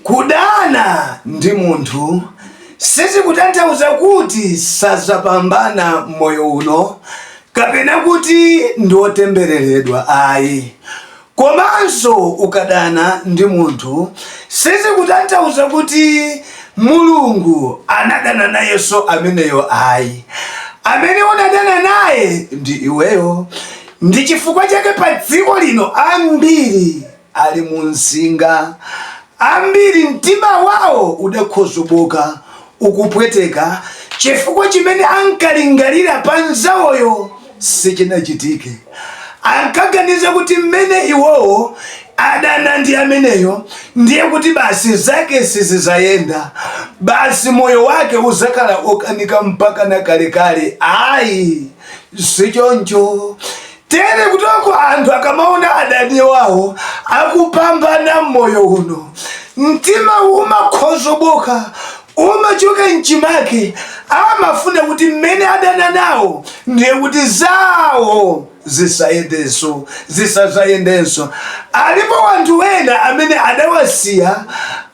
Kudana ndi munthu sizikutanthauza kuti sadzapambana m'moyo uno kapena kuti ndi wotembereredwa ayi. Komanso ukadana ndi munthu sizikutanthauza kuti Mulungu anadana nayenso ameneyo ayi. Amene unadana naye ndi iweyo. Ndi chifukwa chake padziko lino ambiri. ali mu msinga. Ambiri mtima wawo udakhozobooka, ukupweteka, chifukwa chimene ankalingalira pa mnzawoyo sichinachitike. Ankaganiza kuti mmene iwowo adana ndi ameneyo ndiye kuti basi zake sizidzayenda, basi moyo wake udzakhala okanika mpakana kalekale. Ayi, sichoncho. Tere kuti anthu akamaona adani wawo akupambana m'moyo uno, mtima umakhozobooka, umachoka m'chimake, amafuna kuti mmene adana nawo ndiye kuti zawo zisayendenso, zisazayendenso. Alipo wanthu wena amene adawasiya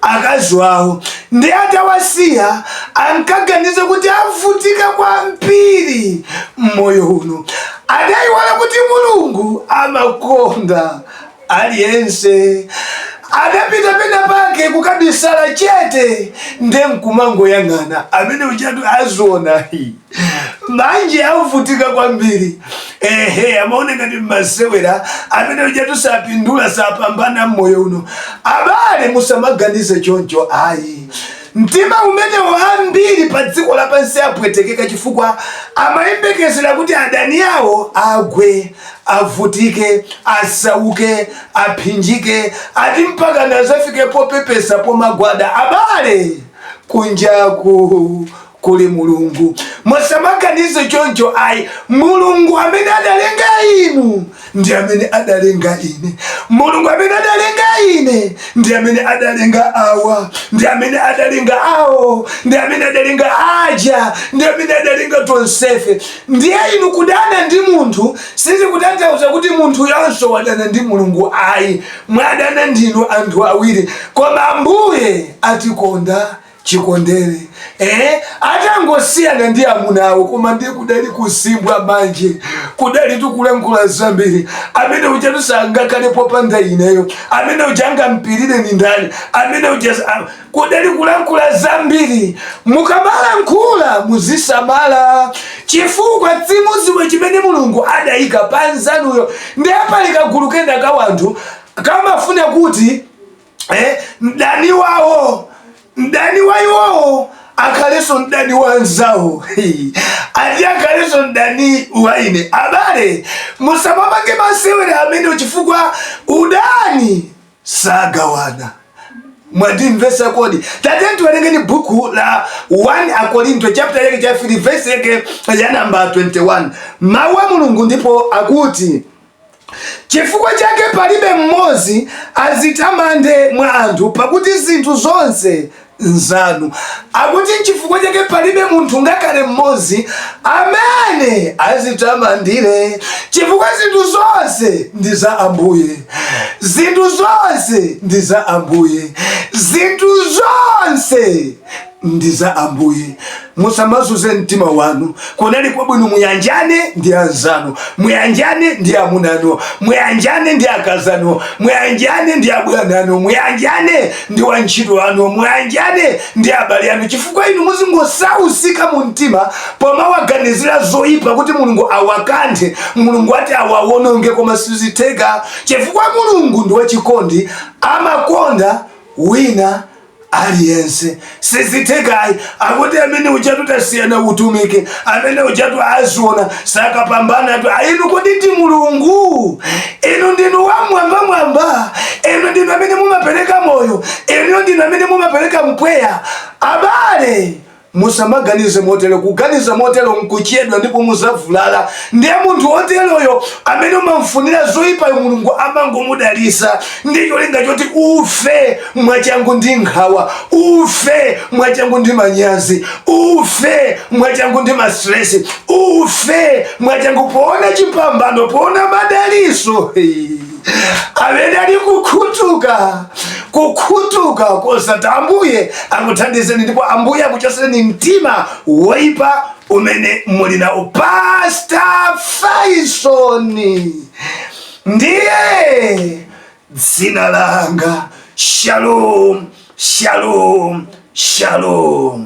akazi wawo, ndiye atawasiya ankaganiza kuti avutika kwambiri m'moyo uno. Adaiwala kuti Mulungu amakonda aliyense. Adapita pena pake kukabisala chete nde nkumangoyang'ana amene uja azionayi manje avutika kwambiri ehe amaona ngati mmasewera amene ujatu sapindula sapambana mmoyo uno abale musamaganize choncho ayi Mtima umenewo ambiri padziko lapansi apwetekeka chifukwa amayembekezera kuti adani awo agwe, avutike, asauke, apsinjike, ati mpakana azafike popepesa pomagwada. Abale! Kunjaku kuli Mulungu. Musamaganize choncho ayi. Mulungu amene adalenga inu ndi amene adalenga ine. Mulungu amene adalenga ine ndi amene adalenga awa, ndi amene adalenga awo, ndi amene adalenga aja, ndi amene adalenga tonsefe. Ndiye inu kudana ndi munthu sizikutanthauza kuti munthuyonso wadana ndi Mulungu ayi, mwadana ndinu anthu awiri, koma Ambuye atikonda chikondere eh, atangosiyana ndi amuna awo koma ndiye kudali kusimbwa manje kudali kulankhula zambiri amene ujatu sangakhale popanda ineyo amene uja angampirire ndi ndani amene uja kudali kulankhula zambiri mukamalankhula muzisamala chifukwa simudziwa chimene mulungu adayika panzanuyo ndiye pali kagulu kena ka wanthu kamafuna kuti eh, mdani wawo mdani wa iwowo akhalenso mdani wa anzawo ati akhalenso mdani wa ine abale musamapange masewera amene chifukwa udani sagawana mwandimvetsa kodi tatiyeni tiwerengeni buku la 1 akorinto chapter yake ya 3 verse yake ya namba 21 mawu a mulungu ndipo akuti Chifukwa chake palibe mmodzi adzitamande mwa anthu, pakuti zinthu zonse nzanu. Akuti nchifukwa chake palibe munthu ngakhale mmodzi amene adzitamandire, chifukwa zinthu zonse ndi za Ambuye. Zinthu zonse ndi za Ambuye. Zinthu zonse ndi za Ambuye. Musamazunze mtima wanu. Kunali kwabwino muyanjane ndi anzanu, muyanjane ndi amuna anu, muyanjane ndi akazi anu, muyanjane ndi abwana anu, muyanjane ndi wantchito wanu, muyanjane ndi abale anu, chifukwa inu muzingosausika mu mtima pomawaganizira zoyipa kuti Mulungu awakanthe, Mulungu ati awawononge, koma sizitheka chifukwa Mulungu ndi wachikondi, amakonda wina aliyense sizithekayi akuti amene ujatu tasiyana utumiki amene ujatu aziona sakapambanatu ayi inu kodi ndi mulungu inu ndinu wamwambamwamba inu ndinu amene mumapereka moyo inu ndinu amene mumapereka mpweya abale Musamaganize motero. Kuganiza motero n'kuchedwa ndipo mudzavulala. Ndiye munthu woteroyo, amene umam'funira zoipayo Mulungu amangomudalitsa ndi cholinga choti ufe mwachangu ndi nkhawa, ufe mwachangu ndi manyazi, ufe mwachangu ndi masitiresi, ufe mwachangu poona chipambano, poona madalitso. amene ali kukhutuka kukhutuka kosati ambuye akuthandizeni ndipo ambuye akuchotsereni mtima woipa umene muli nawo pastor faisoni ndiye dzina langa shalom shalom shalom